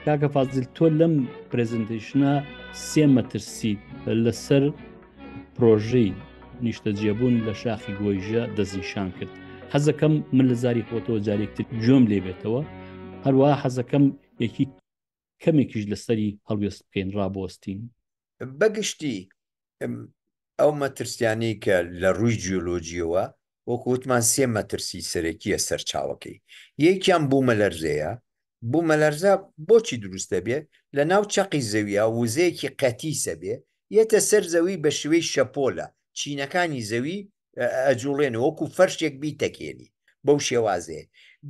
کاکە فازل تۆ لەم پرزنتیشنە سێ مەترسی لەسەر پرۆژەی نیشتەجێبوون لە شاخی گۆیژە دەستنیشان کرد حەزەکەم من لە زاری خۆتەوە جارێکتر گوێم لێ بێتەوە هەروە حەزەکەم یەکی کەمێکیش لەسەری هەڵوێست بکەین ڕابوەستین. بەگشتی ئەو مەترسیانەی کە لە ڕووی جیۆلۆجییەوە وەکو وتمان سێ مەترسی سەرەکییە سەرچاوەکەی، یەکیان بوومەلەرزەیە، بوومەلەرزە بۆچی دروست دەبێت، لەناو چەقی زەوییە وزەیەکی قەتیسە بێ یەتە سەر زەوی بە شێوەی شەپۆلە چینەکانی زەوی ئەجوڵێن وەکو فەرشێک بیتەکێنی بەو شێوازێ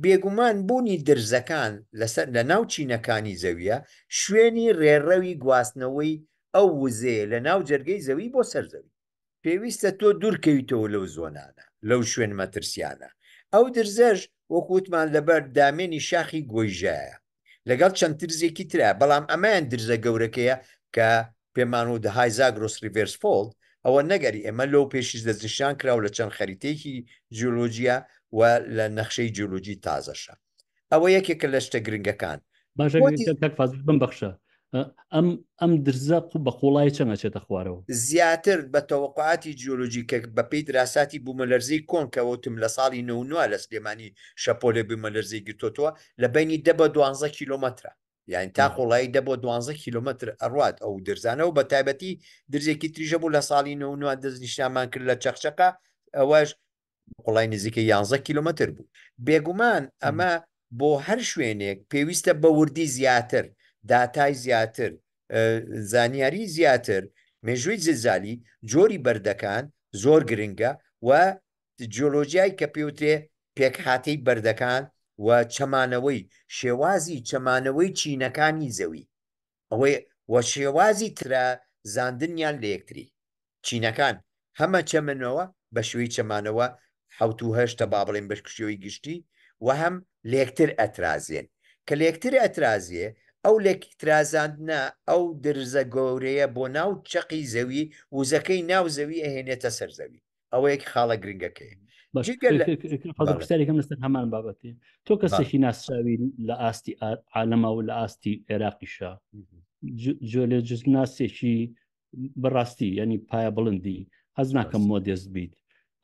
بێگومان بوونی درزەکان لەسەر لە ناو چینەکانی زەویە شوێنی ڕێڕەوی گواستنەوەی ئەو وزەیە لە ناو جەرگەی زەوی بۆ سەر زەوی پێویستە تۆ دوورکەویتەوە لەو زۆنانە لەو شوێن مەترسیانە ئەو درزەش وەکووتمان لەبەر دامێنی شاخی گۆیژایە. لەگەڵ چەند ترزێکی ترە بەڵام ئەمەیان درزە گەورەکەیە کە پێمان و دەهای زاگرۆس ریڤێرس فۆڵد ئەوە نەگەری ئێمە لۆ پێشیش دەستنیشان کرا و لە چەند خەریتەیەکی جیۆلۆجیە و لە نەخشەی جیۆلۆجی تازەشە ئەوە یەکێکە لە شتە گرنگەکان باشە بۆتی... کاک فازل بم بەخشە ئەم ئەم درزە قوب بە قوڵای چەنگە چێتە خوارەوە. زیاتر بە تەوەقوعاتی جیۆلۆجی کە بە پێی دراساتی بوومەلەرزەی کۆن کە وتم لە ساڵی نۆ و نۆە لە سلێمانی شەپۆلێ بوومەلەرزەی گرتۆتەوە لە بەینی دە بۆ دوانزە کیلۆمەترە یانی تا قوڵایی دە بۆ دوانزە کیلۆمەتر ئەڕوات ئەو درزانە و بە تایبەتی درزێکی تریش هەبوو لە ساڵی نۆ و نۆە دەستنیشانمان کرد لە چەقچەقە ئەوەش قوڵای نزیکە یانزە کیلومتر بوو بێگومان ئەمە بۆ هەر شوێنێک پێویستە بە وردی زیاتر داتای زیاتر زانیاری زیاتر مێژووی زلزالی جۆری بەردەکان زۆر گرنگە و جۆلۆژیای کە پێوترێ پێکهاتەی بەردەکان و چەمانەوەی شێوازی چەمانەوەی چینەکانی زەوی ئەوەی وە شێوازی ترا زاندنیان لە یەکتری. چینەکان هەمە چەمنەوە بە شێوەی چەمانەوە حەوت و هەشت ە با بڵێین بە شێوەی گشتی وە هەم لە یەکتر ئەترازێن. کە لە یەکتر ئەترازێ ئەو لە ترازاندنە ئەو درزە گەورەیە بۆ ناو چەقی زەوی وزەکەی ناو زەوی ئەهێنێتە سەر زەوی. ئەوەیەک خاڵە گرنگەکەی پرسیارێکم لەسەر هەمان بابەتی تۆ کەسێکی ناسراوی لە ئاستی عالەما و لە ئاستی عێراقیشە جۆ لە جزناسێکی بەڕاستی ینی پایە بڵندی هەز ناکەم مۆدێست بیت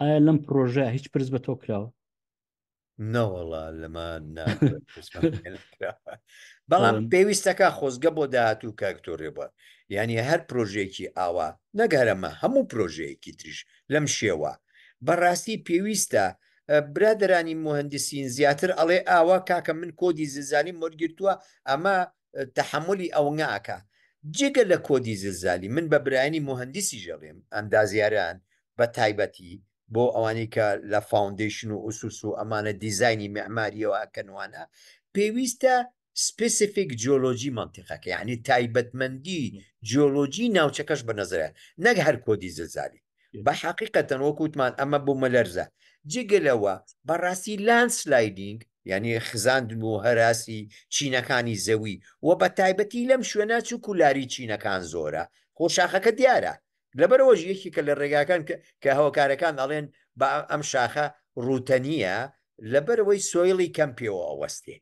ئایا لەم پرۆژە هیچ پرس بە تۆ کراوە نەوەڵا لەمە بەڵام پێویستەکە خۆزگە بۆ داهاتوو کاکتۆرێ بووە یعنی هەر پرۆژێکی ئاوا نەگەرەمە هەموو پرۆژەیەکی تریش لەم شێوە بەڕاستی پێویستە برادرانی مهندسین زیاتر ئەڵێ ئاوا کاکە من کۆدی زلزانی مۆرگرتووە ئەمە تەحەمولی ئەوەنگە ئەکا جگە لە کۆدی زلزالی من بە برایانی موهەندیسیش ئەڵیم ئەندازیاران بە تایبەتی بۆ ئەوانەی کە لە فاوندەیشن و ئوسوس و ئەمانە دیزاینی معماریەوە ئەکەن وانە پێویستە سپیسیفیک جیۆلۆجی مەنتیقەکە یعنی تایبەتمەندی جیۆلۆجی ناوچەکەش بە نەزەرە نەک هەر کۆدی زلزالی بە حقیقەتەن وەک وتمان ئەمە بوو مەلەرزە جگەلەوە بەڕاستی لانس لایدینگ یعنی خزاندن و هەراسی چینەکانی زەوی و بە تایبەتی لەم شوێنە چووک و لاری چینەکان زۆرە خۆ شاخەکە دیارە لەبەرەوەژ یەکی کە لە ڕێگاکان کە هەوکارەکان ئەڵێن بە ئەم شاخە ڕوتەنیە لەبەرەوەی سۆیڵی کەم پێوە ئەوەستێ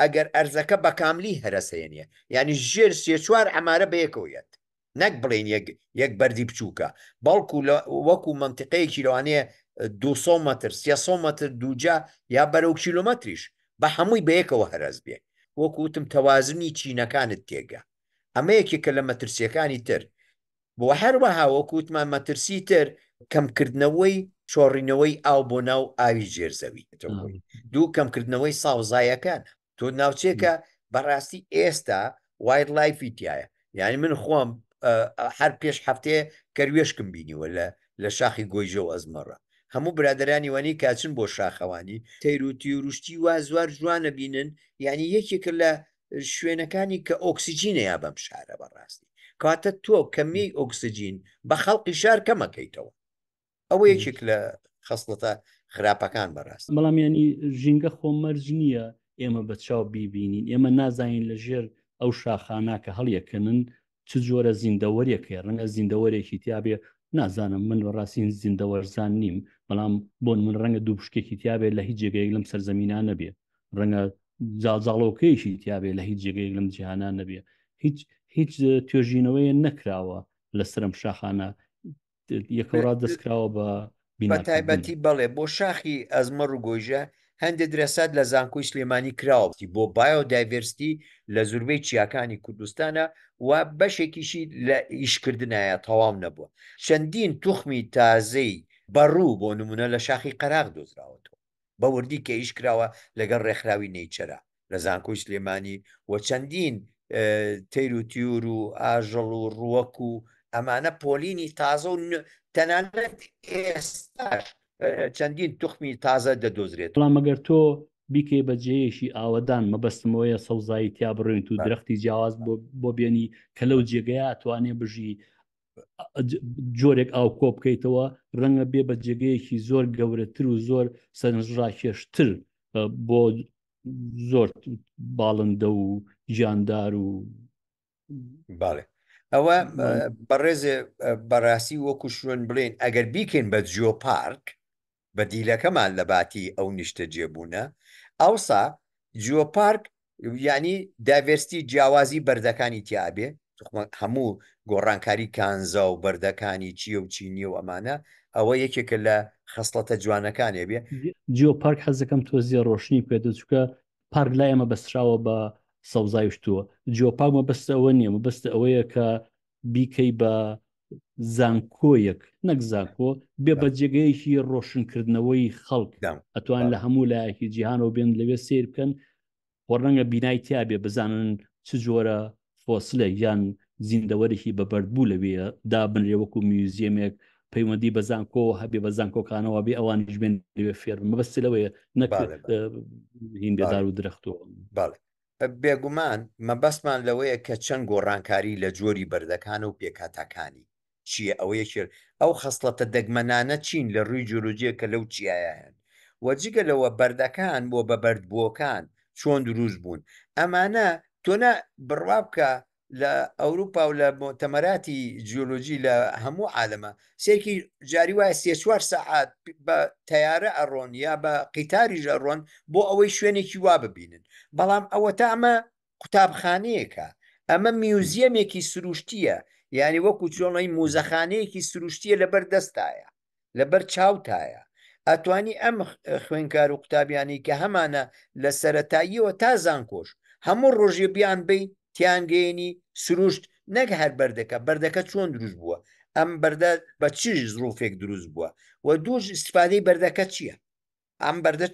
ئەگەر ئەرزەکە بەکاملی هەرەسەیە نیە یانی ژێر سێ چوار عمارە بەیەکەوە یەت نەک بڵێن یەک یەک بەردی بچووکە بەڵکو لە وەکو منتیقەیەکی لەوانەیە 200 متر 300 متر دووجا یا بەرەو کیلومتریش بە هەمووی بەیەکەوە هەرەس بێ وەکوتم تەوازنی چینەکانت تێگە ئەمە یەکێکە لە مەترسیەکانی تر بۆ هەروەها وەکو وتمان مەترسی تر کەمکردنەوەی چۆڕینەوەی ئاو بۆ ناو ئاوی ژێرزەوی دوو کەمکردنەوەی ساوزایەکان تۆ ناوچێکە بەڕاستی ئێستا وایت لایفی تایە یعنی من خۆم هەر پێش هەفتەیە کەروێشکم بینیوە لە لە شاخی گۆیژە و ئەزمەڕە هەموو برادرانی وانی کاچن بۆ شاخەوانی تەیروتی وروشتی وا زوار جوانە بینن یعنی یەکێکە لە شوێنەکانی کە ئۆکسسیجینە یا بەم شارە بەڕاستی کاتە تۆ کەمی ئۆکسسیجین بە خەڵقی شار کەمەکەیتەوە ئەوە یەکێک لە خستڵەتە خراپەکان بەڕاست بەڵام ینی ژینگە خۆمەرج نییە ئێمە بە چاو بیبینین ئێمە نازانین لە ژێر ئەو شاخانە کە هەڵیەکەنن چ جۆرە زیندەوەریەکەی ڕەنگە زیندەوەرێکی تیاابێ نازانم من بەڕاستین زیندەوەرزان نیم بەڵام بۆن من ڕەنگە دوو پشکێکی تیاابێت لە هیچ جێگەیەک لەم سەرزەمینان نەبێ ڕەنگە جاڵجاڵۆکەیەکی تیاابێ لە هیچ جێگەیەک لەم جیهانان نەبێ هیچ هیچ توێژینەوەیە نەکراوە لە سرم شاخانە یەکەڕا دەستکراوە بە بە تایبەتی بەڵێ بۆ شاخی ئەزمەڕ و گۆیژە هەندێک درەسات لە زانکۆی سلێمانی کراوەتی بۆ بایۆ دایڤرستی لە زوربەی چیاکانی کوردستانە و بەشێکیشی لە ئیشکردایە تەواو نەبووە چەندین توخمی تازەی بەڕوو بۆ نمونە لە شاخی قەراغ دۆزراوەتەوە بە وردی کە ئیش کراوە لەگەڵ ڕێکخراوی نەیچەرە لە زانکۆی سلێمانی و چەندین تەیر و تیور و ئاژەڵ و ڕووەک و ئەمانە پۆلینی تازە و تەنانەت ئێستاش چەندین توخمی تازە دەدۆزرێت بەڵام مەگەر تۆ بیکەی بە جێیەکی ئاوەدان مەبەستمەوەیە سەوزایی تیا بڕوێنیت و درەختی جیاواز بۆ بۆ بێنی کە لەو جێگەیە ئەتوانێ بژی جۆرێک ئاو کۆ بکەیتەوە ڕەنگە بێ بە جێگەیەکی زۆر گەورەتر و زۆر سەرنجڕاکێشتر بۆ زۆر باڵندە و گیاندار و باڵێ ئەوە بەڕێزێ بەڕاستی وەکو شوێن بڵێن ئەگەر بیکەین بە جیۆپارک بەدیلەکەمان لە باتی ئەو نیشتەجێبوونە، ئەوسا جیۆپارک یانی دایڤێرسیتی جیاوازی بەردەکانی تیا ئەبێ، توخوا هەموو گۆڕانکاری کانزا و بەردەکانی چییە و چی نییە و ئەمانە، ئەوە یەکێکە لە خەسڵەتە جوانەکانی ئەبێ. جیۆپارک حەز دەکەم تۆزێ ڕۆشنی پێ بدە، چونکە پارک لای ئێمە بەستراوە بە سەوزای و شتووە، جیۆپارک مەبەست ئەوە نییە، مەبەست ئەوەیە کە بیکەی بە زانکۆیەک نەک زانکۆ بێ بە جێگەیەکی ڕۆشنکردنەوەی خەڵک ئەتوان لە هەموو لایەکی جیهانەوە بێن لەوێ سیر بکەن خۆ ڕەنگە بینای تیاابێ بزانن چ جۆرە فۆسلە یان زیندەوەرێکی بەبەرد بوو لەوێ دابنرێ وەکو میوزیەمێک پەیوەندی بە زانکۆ هەبێ بە زانکۆکانەوە بێ ئەوانیش بێن لەوێ فێرم مەبەست لەوەیە نەک هین بێدار و درەختەوە بێگومان مەبەستمان لەوەیە کە چەند گۆڕانکاری لە جۆری بەردەکانە و پێکهاتەکانی چییە ئەوە یەکێک ئەو خەسڵەتە دەگمەنانە چین لە رووی جۆرۆجێ کە لەو چیایە هەن و جگە لەوە بەردەکان بۆ بە بەردبووەکان چۆن دروست بوون ئەمانە تۆ نا بڕوا بکە لە ئەوروپا و لە مۆتەمەراتی جیۆلۆجی لە هەموو عالەمە سێکی جاری وایە سێ چوار سەعات بە تیارە ئەڕۆن یا بە قیتاریش ئەڕۆن بۆ ئەوەی شوێنێکی وا ببینن بەڵام ئەوە تا ئەمە قوتابخانەیەکە ئەمە میوزیەمێکی سروشتیە یعنی وەکو چۆڵی موزەخانەیەکی سروشتیە لەبەر دەستایە لەبەر چاوتایە ئەتوانی ئەم خوێنکار و قوتابیانی کە هەمانە لە سەتاییەوە تا زانکۆش هەموو ڕۆژی بیان بی تیانگەێنی سروشت نەک هەر بەردەکە بەردەکە چۆن دروست بووە ئەم بەردە بە چیش زروفێک دروست بووە و دووش استفادەی بەردەکە چییە ئەم بەردە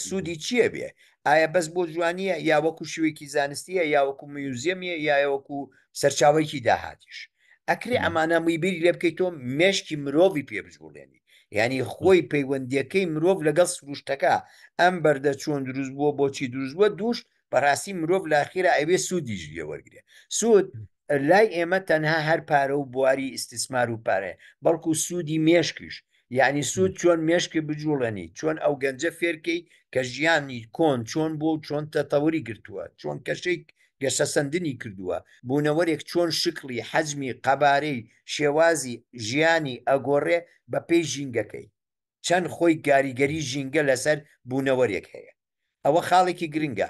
سوودی چییە بێ ئایا بەس بۆ جوانیە یا وەکو شوێکی زانستیە یا وەکو میوزیەمیە یا وەکو سەرچاوێکی داهاتیش ئەکرێ ئەمانە میبیری لێ بکەیت تۆ مێشکی مرۆڤی پێ بجوڵێنی ینی خۆی پەیوەندیەکەی مرۆڤ لەگەڵ سروشتەکە ئەم بەردە چۆن دروست بووە بۆچی دروست بووە دووش بەڕاستی مرۆڤ لاخیرا ئەوێ سوودیش لێ وەرگێ سوود لای ئێمە تەنها هەر پارە و بواری ئیسیسمار و پارێ بەڵکو سوودی مێشکیش یعنی سوود چۆن مێشکی بجوڵێنی چۆن ئەو گەنجە فێرکەی کە ژیانی کۆن چۆن بۆ و چۆن تەتەوری گرتووە چۆن کەشەی گەشەسەندنی کردووە بوونەوەرێک چۆن شکلی حەجمی قەبارەی شێوازی ژیانی ئەگۆڕێ بە پێی ژینگەکەی چەند خۆی گاریگەری ژینگە لەسەر بوونەوەرێک هەیە ئەوە خاڵێکی گرنگە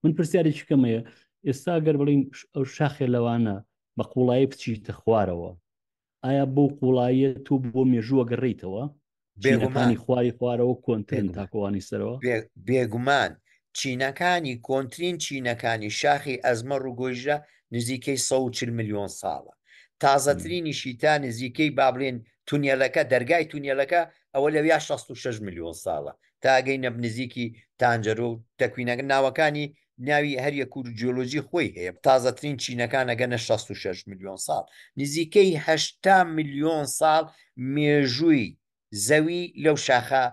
من پرسیارێکی کەمەیە ئێستا گەر بڵین ئەو شاخێ لەوانە بە قوڵایی بچیتە خوارەوە ئایا بۆ قوڵاییە تۆ بۆ مێژووە گەڕیتەوە بێگومانی خواری خوارەوە کۆنترن تاکۆوانی سەرەوە بێگومان چینەکانی کۆنترین چینەکانی شاخی ئەزمە ڕووگۆژرە نزیکەی 140 میلیۆن ساڵە تازەترینی شیتا نزیکەی بابلێن تونێلەکە دەرگای تونێلەکە ئەوە لەویا 66 میلیۆن ساڵە تا ئەگەینە نزیکی تانجەرۆ و تەکوینەکە ناوەکانی ناوی هەر یەک و جیۆلۆجی خۆی هەیە تازەترین چینەکان ئەگەنە شەست و شەش ملیۆن ساڵ نزیکەی هەشتا ملیۆن ساڵ مێژووی زەوی لەو شاخە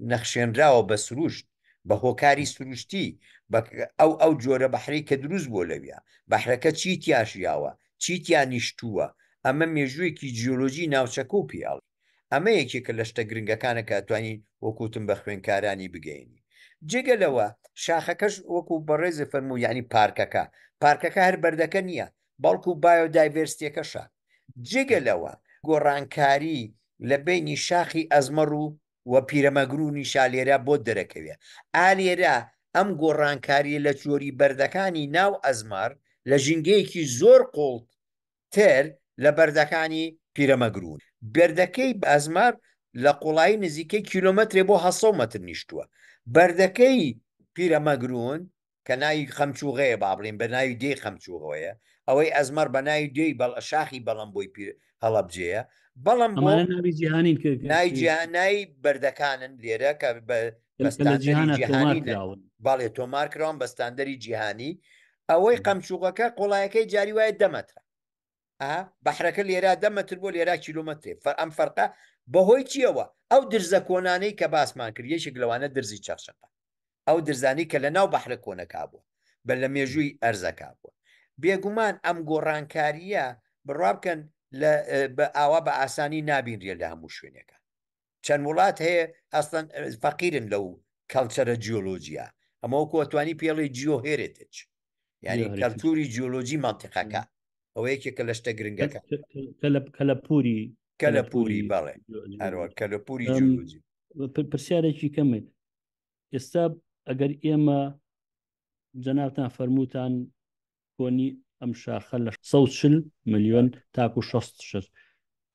نەخشێنراوە بە سروشت بە هۆکاری سروشتی بە ئەو ئەو جۆرە بەحرەی کە دروست بووە لەویا بەحرەکە چی تیاژیاوە چی تیا نیشتووە ئەمە مێژوویەکی جیۆلۆجی ناوچەکە و پیاڵی ئەمە یەکێکە لە شتە گرنگەکانە کە ئەتوانین وەکو وتم بە خوێنکارانی بگەینی جێگە لەوە شاخەکەش وەکو بەڕێزی فەرموو یعنی پارکەکە پارکەکە هەر بەردەکە نییە بەڵکو بایۆدایڤرستیەکەشە جێگە لەوە گۆڕانکاری لە بینی شاخی ئەزمەڕ و و پیرەمەگرونی شالێرە بۆ دەرەکەوێ ئالێرە ئەم گۆڕانکاری لە چۆری بەردەکانی ناو ئەزمار لە ژینگەیەکی زۆر قوڵت تر لە بەردەکانی پیرەمەگروون. بەردەکەی بازمار لە قوڵایی نزیکەی کیلۆمەترێ بۆ هەشت سەد مەتر نیشتووە. بەردەکەی پیرەمەگروون کە ناوی خەمچووغەیە با بڵێین بە ناوی دێی خەمچووغەوەیە، ئەوەی ئەزمەڕ بە ناوی دێی شاخی بەڵەمبۆی پیر هەڵەبجەیە، بەڵەمبۆ. ئەمانە ناوی جیهانین کە کە. ناوی جیهان ناوی بەردەکانن لێرە کە بە کە لە جیهانا تۆمار کراون. بەستاندەری جیهانی بەڵێ تۆمار کراون بە ستاندەری جیهانی. ئەوەی قەمچووقەکە قۆڵایەکەی جاری وایە دەمەترە بەحرەکە لێرا دەمەتر بۆ لێرا کیلومترێ فەر ئەم فەرقە بەهۆی چیەوە ئەو درزە کۆنانەی کە باسمان کرد یەکێک لەوانە درزی چەخشەقە ئەو درزانی کە لە ناو بەحرە کۆنەکە بووە بە لە مێژووی ئەرزەکە بووە بێگومان ئەم گۆڕانکاریە بڕابکەن بە ئاوا بە ئاسانی نابینرێ لە هەموو شوێنەکە چەند وڵات هەیە ئەسڵەن فەقیرن لەو کەڵچەرە جیۆلۆجیە ئەمە کۆتوانی پێڵی جیۆ هێرێتج یعنی کەلتوری جیۆلۆجی منطقەکە ئەوە یەکێکە لە شتە گرنگەکە کەلەپوری کەلەپوری بەڵێ هەروە کەلەپوری جیۆلۆجی پرسیارێکی کەمێ ئێستا ئەگەر ئێمە جەناوتان فەرمووتان کۆنی ئەم شاخە لە 140 ملیۆن تاکو 6 شش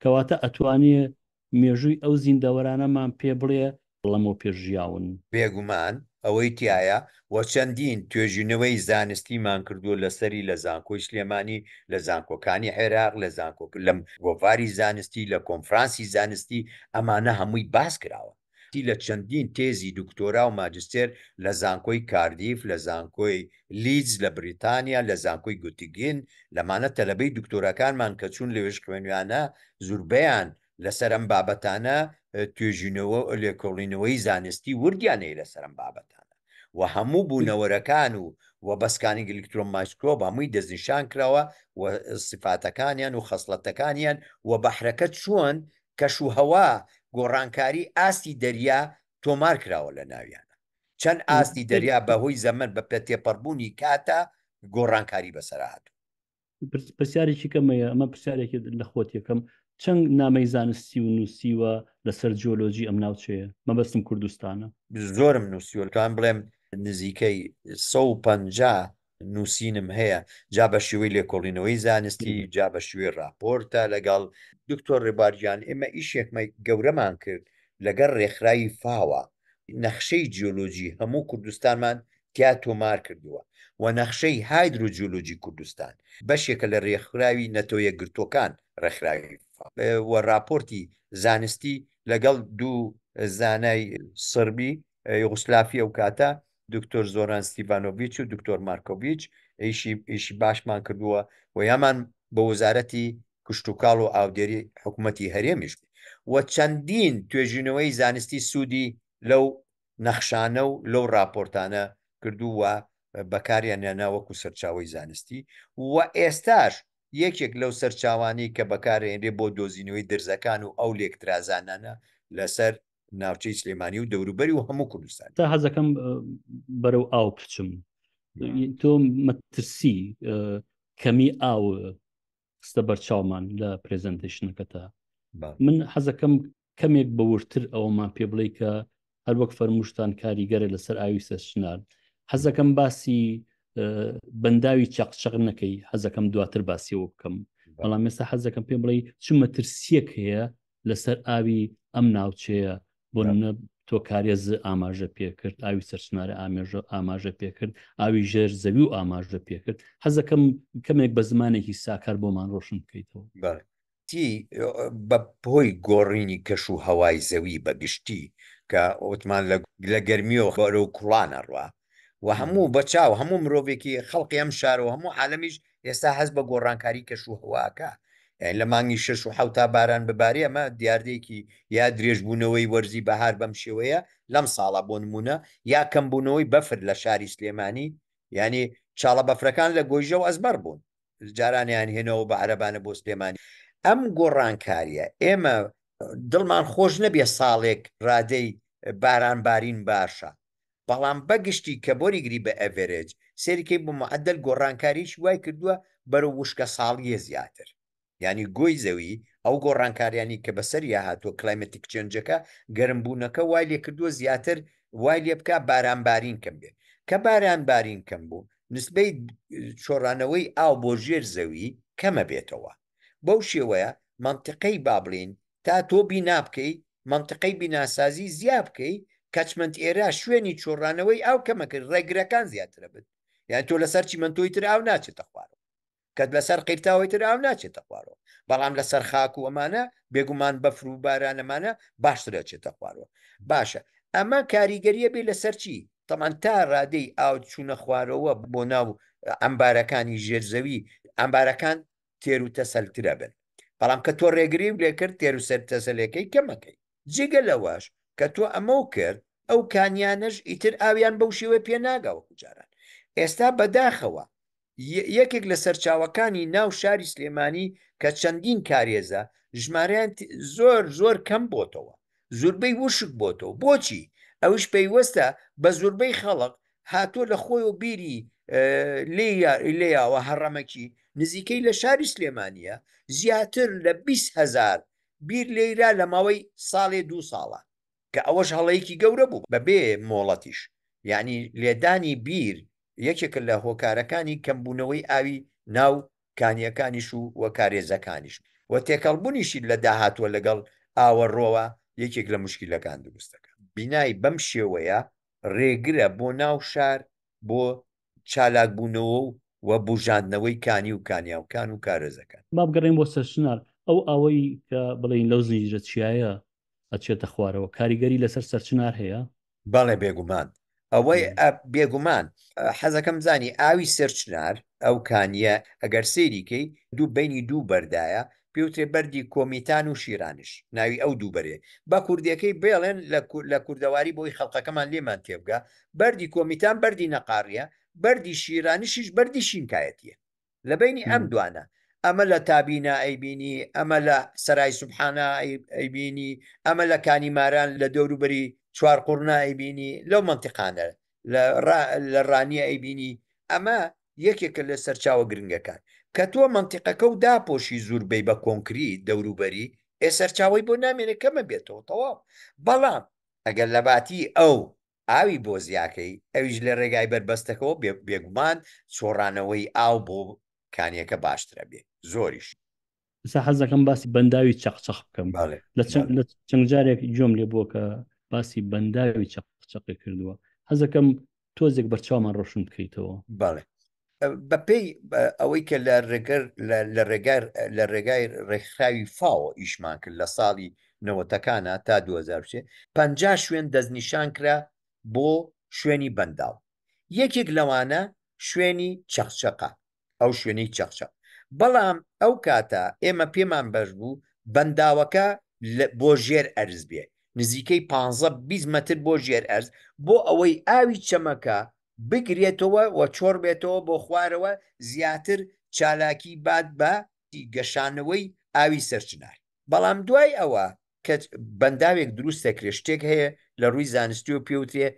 کەواتە ئەتوانێ مێژووی ئەو زیندەوەرانەمان پێ بڵێ بڵەمەوە پێش ژیاون. بێگومان ئەوەی تیایە و چەندین توێژینەوەی زانستیمان کردووە لەسەری لە زانکۆی سلێمانی، لە زانکۆکانی عێراق، لە زانکۆ لە گۆڤاری زانستی، لە کۆنفرانسی زانستی، ئەمانە هەمووی باس کراوە. ی لە چەندین تێزی دکتۆرا و ماجستێر لە زانکۆی کاردیف، لە زانکۆی لیدز لە بریتانیا، لە زانکۆی گوتیگین، لەمانە تەلەبەی دکتۆراکانمان کە چوون لەوێش خوێنویانە، زوربەیان لەسەر ئەم بابەتانە توێژینەوە و لێکۆڵینەوەی زانستی وردیان هەیە لەسەر ئەم بابەتانە و هەموو بوونەوەرەکان و و بەسکانینگ ئیلکترۆن مایسکرۆب هەمووی دەستنیشان کراوە و سیفاتەکانیان و خەسڵەتەکانیان و بەحرەکە چۆن کەش و هەوا، گۆڕانکاری ئاستی دەریا تۆمار کراوە لە ناویانە چەند ئاستی دەریا بە هۆی زەمەن بە پێ تێپەڕبوونی کاتە گۆڕانکاری بەسەرا هاتوو. پرسیارێکی کەم مەیە ئەمە پرسیارێکی لە خۆت یەکەم چەند نامەی زانستی و نووسیوە لەسەر جیۆلۆجی ئەم ناوچەیە مەبەستم کوردستانە؟ زۆرم نووسیوە لەتوانم بڵێم نزیکەی سەد و پەنجا نووسینم هەیە جا بە شێوەی لێکۆڵینەوەی زانستی جا بە شوێ راپۆرتە لەگەڵ دکتۆر ڕێبارگیان ئێمە ئیشێکمە گەورەمان کرد لەگەر ڕێکخراوی فاوە نەخشەی جیۆلۆجی هەموو کوردستانمان تیا تۆمار کردووە و نەخشەی هایدرو جیۆلۆجی کوردستان بەشێکە لە ڕێکخراوی نەتەوە یەکگرتووەکان ڕێکخراوی و ڕاپۆرتی زانستی لەگەڵ دوو زانای سڕبی یوغسلافی ئەو کاتە دکتۆر زۆران ستیڤانۆڤچ و دکتۆر مارکۆڤچ ئیشی ئیشی باشمان کردووە و یامان بە وەزارەتی کشتتوکاڵ و ئاودێری حکوومەتتی هەرێمیش و چەندین توێژینەوەی زانستی سوودی لەو نەخشانە و لەو ڕاپۆرتانە کردو و بەکاریان نانا وەکو سەرچاوی زانستی و ئێستاش یەکێک لەو سەرچاوانەی کە بەکارێنرێ بۆ دۆزینەوەی درزەکان و ئەو لێکترازانانە لەسەر ناوچەی سلێمانی و دەوروبەری و هەموو کوردستان تا حەزەکەم بەرەو ئاو بچم تۆ مەترسی کەمی ئاو خستە بەرچاومان لە پرزنتشنەکەتا من حەزەکەم کەمێک بەورتر ئەوەمان پێ بڵێ کە هەروەک فەرموشتان کاریگەرە لەسەر ئاوی سەرچنار حەزەکەم باسی بەنداوی چەقچەق نەکەی حەزەکەم دواتر باسیەوە بکەم بەڵام مێستا حەزەکەم پێ بڵێ چ مەترسیەک هەیە لەسەر ئاوی ئەم ناوچەیە بۆ نمونە تۆکارێز ئاماژە پێکرد ئاوی سەرسنارە ئامێژە ئاماژە پێکرد ئاوی ژێر زەوی و ئاماژە پێکرد حەزەکەم کەمێک بە زمانێکی ساکار بۆمان ڕۆشن بکەیتەوە بە پۆی گۆڕینی کەش و هەوای زەوی بەگشتی کە ئۆتمان لە گەرمیەوە خۆرە و کوڵانەڕە و هەموو بە چاو هەموو مرۆڤێکی خەڵقی ئەم شارەوە هەموو عالمیش ئێستا هەز بە گۆڕانکاری کەش و هەواکە یعنی لە مانگی شش و حوتا باران ببارێ ئەمە دیاردێکی یا درێژبوونەوەی وەرزی بەهار بەم شێوەیە لەم ساڵە بۆ نمونە یا کەمبوونەوەی بەفر لە شاری سلێمانی یعنی چاڵە بەفرەکان لە گۆیژە و ئەزمەر بوون جارانیان هێنەوە بە عەربانە بۆ سلێمانی ئەم گۆڕانکاریە ئێمە دڵمان خۆش نەبێ ساڵێک ڕادەی باران بارین باشە بەڵام بەگشتی کە بۆ ریگری بە ئەڤێرێج سەیری کەی بۆ معەدەل گۆڕانکاریەکی وای کردووە بەرەو وشکە ساڵییە زیاتر یانی گۆی زەوی ئەو گۆڕانکاریانی کە بەسەریا هاتووە کلایمەتیک چێنجەکە گەرم بوونەکە وای لێ کردووە زیاتر وای لێ بکا باران بارین کەم بێ کە باران بارین کەم بوو نسبەی چۆڕانەوەی ئاو بۆ ژێر زەوی کەمە بێتەوە. بەو شێوەیە مەنتقەی با بڵێین تا تۆ بینا بکەی مەنتقەی بیناسازی زیا بکەی کەچمەند ئێرە شوێنی چۆڕانەوەی ئاو کەمەکرد ڕێگرەکان زیاترە بن یان تۆ لەسەر چیمەندۆی تر ئاو ناچێتە خوارەوە کەت لەسەر قیرتاوەی تر ئاو ناچێتە خوارەوە بەڵام لەسەر خاک و ئەمانە بێگومان بەفر و بارانەمانە باشترە چێتە خوارەوە باشە ئەمە کاریگەریە بێ لەسەر چی تەمان تا ڕادەی ئاو چوونە خوارەوە بۆ ناو ئەمبارەکانی ژێرزەوی ئەمبارەکان تێرو تەسەلترە بن بەڵام کە تۆ ڕێگری و لێکرد تێرو سەر تەسەلەکەی کەمەکەی جگە لەوەش کە تۆ ئەمەو کرد ئەو کانیانەش ئیتر ئاویان بەو شێوە پێناگەوە جاران ئێستا بەداخەوە یەکێک لە سەرچاوەکانی ناو شاری سلێمانی کە چەندین کارێزە ژمارەیان زۆر زۆر کەم بۆتەوە زوربەی وشک بۆتەوە بۆچی ئەوش پەیوەستە بە زوربەی خەڵق هاتۆ لە خۆی و بیری لێیاوە هەڕەمەکی نزیکەی لە شاری سلێمانە زیاتر لە 20هزار بیر لێرا لە ماوەی ساڵێ دوو ساڵە کە ئەوەش هەڵەیەکی گەورە بوو بە بێ مۆڵەتیش یعنی لێدانی بیر یەکێکە لە هۆکارەکانی کەمبوونەوەی ئاوی ناو کانیەکانیش و وە کارێزەکانیش و تێکەڵبوونیشی لە داهاتوە لەگەڵ ئاوە ڕۆوە یەکێک لە مشکیلەکان دروستەکە بینای بەم شێوەیە ڕێگرە بۆ ناو شار بۆ چالاکبوونەوە و بوژاندنەوەی کانی و کانیاوکان و کارێزەکان. با بگەڕێین بۆ سەرچنار، ئەو ئاوەی کە بڵێین لەو زنجیرە چیایە ئەچێتە خوارەوە کاریگەری لەسەر سەرچنار هەیە؟ بەڵێ بێگومان، ئەوەی بێگومان حەزەکەم بزانی ئاوی سەرچنار ئەو کانییە ئەگەر سەیری کەی دوو بینی دوو بەردایە پێوترێ بەردی کۆمیتان و شیرانش ناوی ئەو دوو بەرێ بە کوردێکەی بێڵێن لە کوردەواری بۆی خەڵقەکەمان لێمان تێبگا بەردی کۆمیتان بەردی نەقاڕیە بەردی شیرانشیش بەردی شینکایەتیە لە بینی ئەم دوانە ئەمە لە تابینا ئەیبینی ئەمە لە سەرای سبحانە ئەیبینی ئەمە لە کانی ماران لە دەوروبەری چوار قوڕنا ئەیبینی لەو منتیقانە لە ڕانیە ئەیبینی ئەمە یەکێکە لە سەرچاوە گرنگەکان کە تۆ مەنتیقەکە و داپۆشی زور بی بە کۆنکری دەوروبەری ئێ سەرچاوی بۆ نامێنێ کەمە بێتەوە تەواو بەڵام ئەگەر لە باتی ئەو ئاوی بۆ زیاکەی ئەویش لە ڕێگای بەربەستەکەەوە بێگومان سۆڕانەوەی ئاو بۆ کانیەکە باشترە بێ زۆریش ئستا حەز دەکەم باسی بەنداوی چەقچەق بکەم لە چەند جارێک جۆم لێ بووە کە باسی بەنداوی چەقچەقی کردووە حەزەکەم تۆزێک بەرچاومان ڕۆشن بکەیتەوە باڵێ بەپێی ئەوەی کە لە ڕێگەر لە ڕێگار لە ڕێگای ڕێکخراوی فاوە ئیشمان کرد لە ساڵی نەوەتەکانە تا 2023 پ شوێن دەستنیشان کرا بۆ شوێنی بەنداو یەکێک لەوانە شوێنی چەخچەقە ئەو شوێنەی چەقچەق بەڵام ئەو کاتە ئێمە پێمان بەش بوو بەنداوەکە بۆ ژێر ئەرز بێ نزیکەی 15 متر بۆ ژێر ئەرز بۆ ئەوەی ئاوی چەمەکە بگرێتەوە و چۆڕ بێتەوە بۆ خوارەوە زیاتر چالاکی بات بە گەشانەوەی ئاوی سەرچنار بەڵام دوای ئەوە کە بەنداوێک دروست دەکرێت شتێک هەیە لە ڕووی زانستی و پێوترێ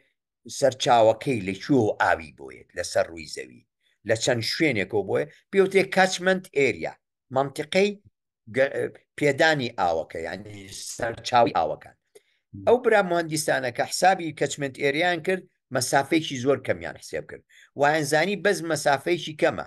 سەرچاوەکەی لە کوێ و ئاوی بۆیەت لەسەر ڕووی زەوی لە چەند شوێنێکەوە بۆیە پێوتێ کاچمەند ئێریا مەنتیقەی پێدانی ئاوەکە یعنی سەرچاوی ئاوەکان ئەو برا مهندیسانەکە حسابی کەچمنت ئێریان کرد مەسافێکی زۆر کەمیان حسێب کرد وایەنزانی بەس مەسافەیەکی کەمە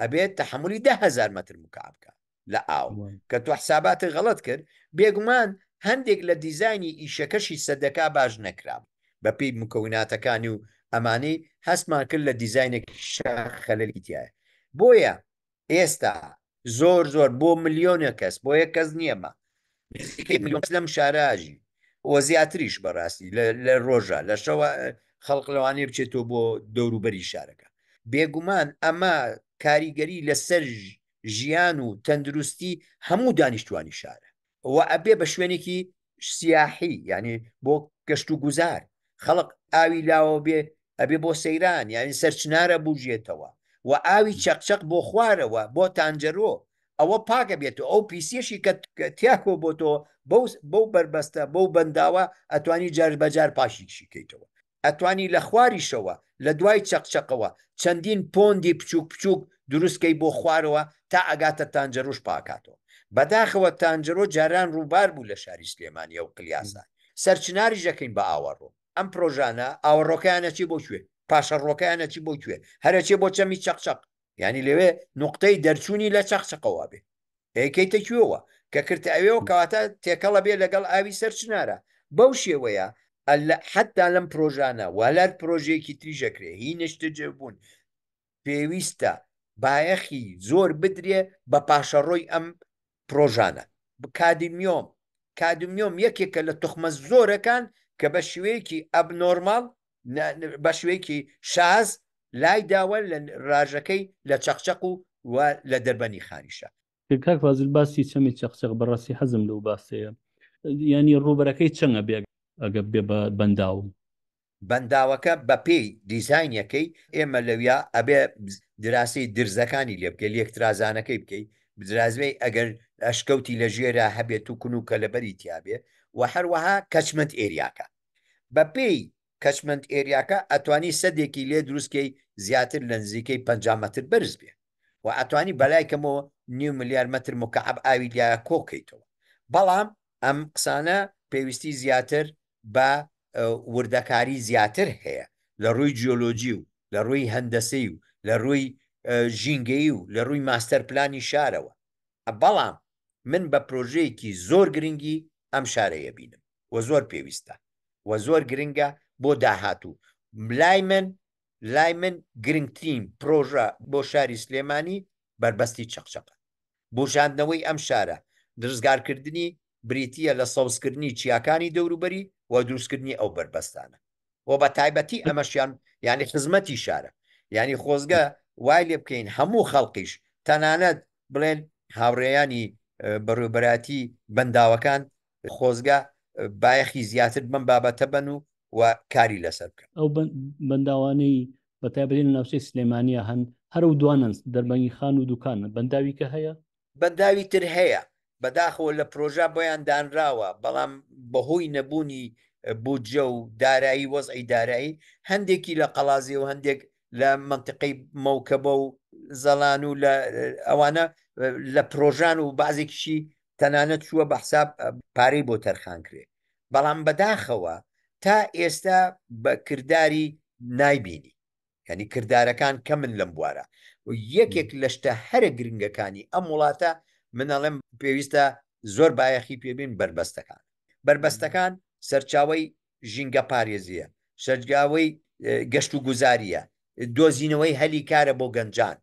ئەبێت تحملی ده هزار متر مکعب بکە لە ئاو کە تۆ حساباتی غەڵت کرد بێگومان هەندێک لە دیزانی ئیشەکەشی سەدەکە باش نەکرام بەپی مکەوناتەکانی و ئەمانەی هەستمان کرد لە دیزینێک خەلەلی تایە بۆیە ئێستا زۆر زۆر بۆ ملیۆنە کەس بۆیە کەس نییەمە نزیکەی ملیۆن کەس لەم شارە ئاژی و زیاتریش بەڕاستی لە ڕۆژە لە شەوە خەڵق لەوانەیە بچێتەوە بۆ دەوروبەری شارەکە بێگومان ئەمە کاریگەری لەسەر ژیان و تەندروستی هەموو دانیشتوانی شارە و ئەبێ بە شوێنێکی سیاحی یعنی بۆ گەشت و گوزار خەڵق ئاوی لاوە بێ ئەبێ بۆ سەیران یعنی سەرچنارە بژێتەوە و ئاوی چەقچەق بۆ خوارەوە بۆ تانجەرۆ ئەوە پاکە بێت و ئەو پیسیەشی کە تیاکۆ بۆ تۆ بەو بەو بەربەستە بەو بەنداوە ئەتوانی جار بەجار پاشیشی کەیتەوە ئەتوانی لە خواریشەوە لە دوای چەقچەقەوە چەندین پۆندی بچووک بچووک دروستکەی بۆ خوارەوە تا ئەگاتە تانجەرۆش پاکاتەوە بەداخەوە تانجەرۆ جاران ڕووبار بوو لە شاری سلێمانیە و قلیاسە سەرچناری ژەکەین بە ئاوەڕۆ ئەم پرۆژانە ئاوەڕۆکەیانەچی بۆ کوێ پاشەڕۆکەیانەچی بۆ کوێ هەرەچێ بۆ چەمی چەقچەق یعنی لەوێ نقطەی دەرچوونی لە چەقچقەوە بێ ئەیکەیتە کوێوە کە کردتە ئەوێەوە کەواتە تێکەڵە بێ لەگەڵ ئاوی سەر چنارە بەو شێوەیە حتا لەم پرۆژانە والار پرۆژێکی تریژەکرێ هی نشتجبوون پێویستە بایەخی زۆر بدرێ بە پاشەڕۆی ئەم پرۆژانە. کادمیۆم، کادمیۆم یەکێکە لە توخمە زۆرەکان کە بە شێوەیەکی ئەبنۆرماڵ، بە شێوەیەکی شاز لای داوە لە راژەکەی لە چەقچەق و و لە دەربەنی خانیشا. کاک فازیل باسی چەمی چەقچەق بەڕاستی حەزم لەو باسەیە یانی ڕووبەرەکەی چەنگە بێ ئەگەر بێ بە بەنداو بەنداوەکە بەپێی دیزاینەکەی ئێمە لەویا ئەبێ دراسی درزەکانی لێ بکەی لێکترازانەکەی بکەی بدرازوی ئەگەر ئەشکەوتی لە ژێرا هەبێت و کون و کەلەبەری تیاابێ و هەروەها کەچمنت ئێریاکە بەپێی کەچمنت ئێریاکە ئەتوانی سەدێکی لێ دروستکەی زیاتر لە نزیکەی 50 متر بەرز بێ و ئەتوانی بەلای کەمەوە نیو ملیار متر مکعب ئاوی لە کۆکەیتەوە بەڵام ئەم قسانە پێویستی زیاتر بە وردەکاری زیاتر هەیە لە ڕووی جیۆلۆجی و لە ڕووی هەندەسەی و لە ڕووی ژینگەیی و لە ڕووی ماستەر پلانی شارەوە بەڵام من بە پرۆژەیەکی زۆر گرنگی ئەم شارەیە بینم و زۆر پێویستە و زۆر گرنگە بۆ داهاتوو لای من لای من گرنگترین پرۆژە بۆ شاری سلێمانی بەربەستی چەقچەقە بوژاندنەوەی ئەم شارە درزگارکردنی بریتییە لە سەوزکردنی چیاکانی دەوروبەری و دروستکردنی ئەو بەربەستانە و بە تایبەتی ئەمەشیان یانی خزمەتی شارە یانی خۆزگە وای لێ بکەین هەموو خەڵقیش تەنانەت بڵێن هاوڕێیانی بەڕێوبەراتی بەنداوەکان خۆزگە بایەخی زیاتر بم بابەتە بن و و کاری لەسەر بکەن ئەو بەنداوانەی بەتابێن ناوچەی سلێمانیا هەن هەرو دوانەنس دەربەنگی خان و دوکانە بەنداویکە هەیە بەنداوی تر هەیە بەداخەوە لە پرۆژە بۆیان دانراوە بەڵام بەهۆی نەبوونی بودجە و دارایی وەزعی دارایی هەندێکی لە قەڵازێ و هەندێک لە مەنتقەی مەوکەبە و زەڵان و لە ئەوانە لە پرۆژان و بازێکیشی تەنانەت چووە بە حساب پارەی بۆ تەرخان کرێ بەڵام بەداخەوە تا ئێستا بە کردداری نایبینی یعنی کردارەکان کەمن لەم بوارە و یەکێک لە شتە هەرە گرنگەکانی ئەم وڵاتە منەڵێم پێویستە زۆر بایەخی پێبین بەربەستەکان بەربەستەکان سەرچاوی ژینگە پارێزیە شەرجاوی گەشت و گوزاریە دۆزینەوەی هەلی کارە بۆ گەنجان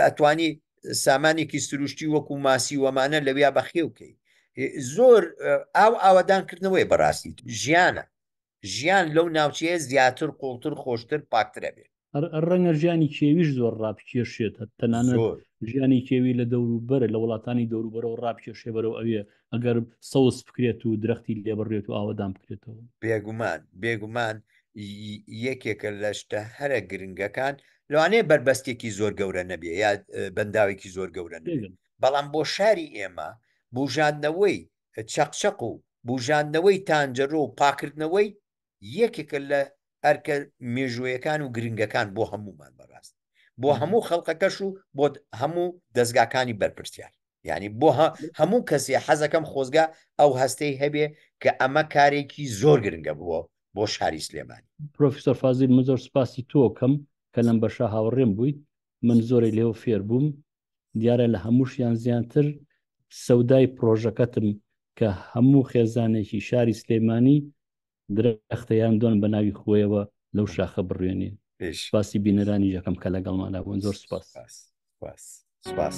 ئەتوانی سامانێکی سروشتی وەکو ماسی وەمانە لەویا بەخێوکەی زۆر ئاو ئاوادانکردنەوەی بەڕاستی ژیانە ژیان لەو ناوچەیە زیاتر، قوڵتر، خۆشتر، پاکتر ئەبێ. ڕەنگە ژیانی کێویش زۆر ڕابکێشێت، تەنانەت ژیانی کێوی لە دەوروبەر، لە وڵاتانی دەوروبەرەوە ڕابکێشێ بەرەو ئەوێ، ئەگەر سەوز بکرێت و درەختی لێ بڕرێت و ئاوەدان بکرێتەوە. بێگومان، بێگومان یەکێکە لە شتە هەرە گرنگەکان، لەوانەیە بەربەستێکی زۆر گەورە نەبێ یا بەنداوێکی زۆر گەورە نەبێ، بەڵام بۆ شاری ئێمە بووژاندنەوەی چەقچەق و بوژاندنەوەی تانجەرۆ و پاکردنەوەی یەکێکە لە ئەرکە مێژوویەکان و گرنگەکان بۆ هەموومان بەڕاست بۆ هەموو خەڵقەکەش و بۆ هەموو دەستگاکانی بەرپرسیار یعنی بۆ هەموو کەسێ حەزەکەم خۆزگە ئەو هەستەی هەبێ کە ئەمە کارێکی زۆر گرنگە بووە بۆ شاری سلێمانی پرۆفیسۆر فازیل من زۆر سپاسی تۆکەم کە لەم بەشە هاوڕێم بوویت من زۆری لێو فێر بووم دیارە لە هەمووشیان زیاتر سەودای پرۆژەکەتم کە هەموو خێزانێکی شاری سلێمانی درەختەیان دۆن بە ناوی خۆیەوە لەو شاخە بڕوێنێ سپاسی بینەرانی یەکەم کە لەگەڵماندا بوون زۆر سپاس سپاس سپاس.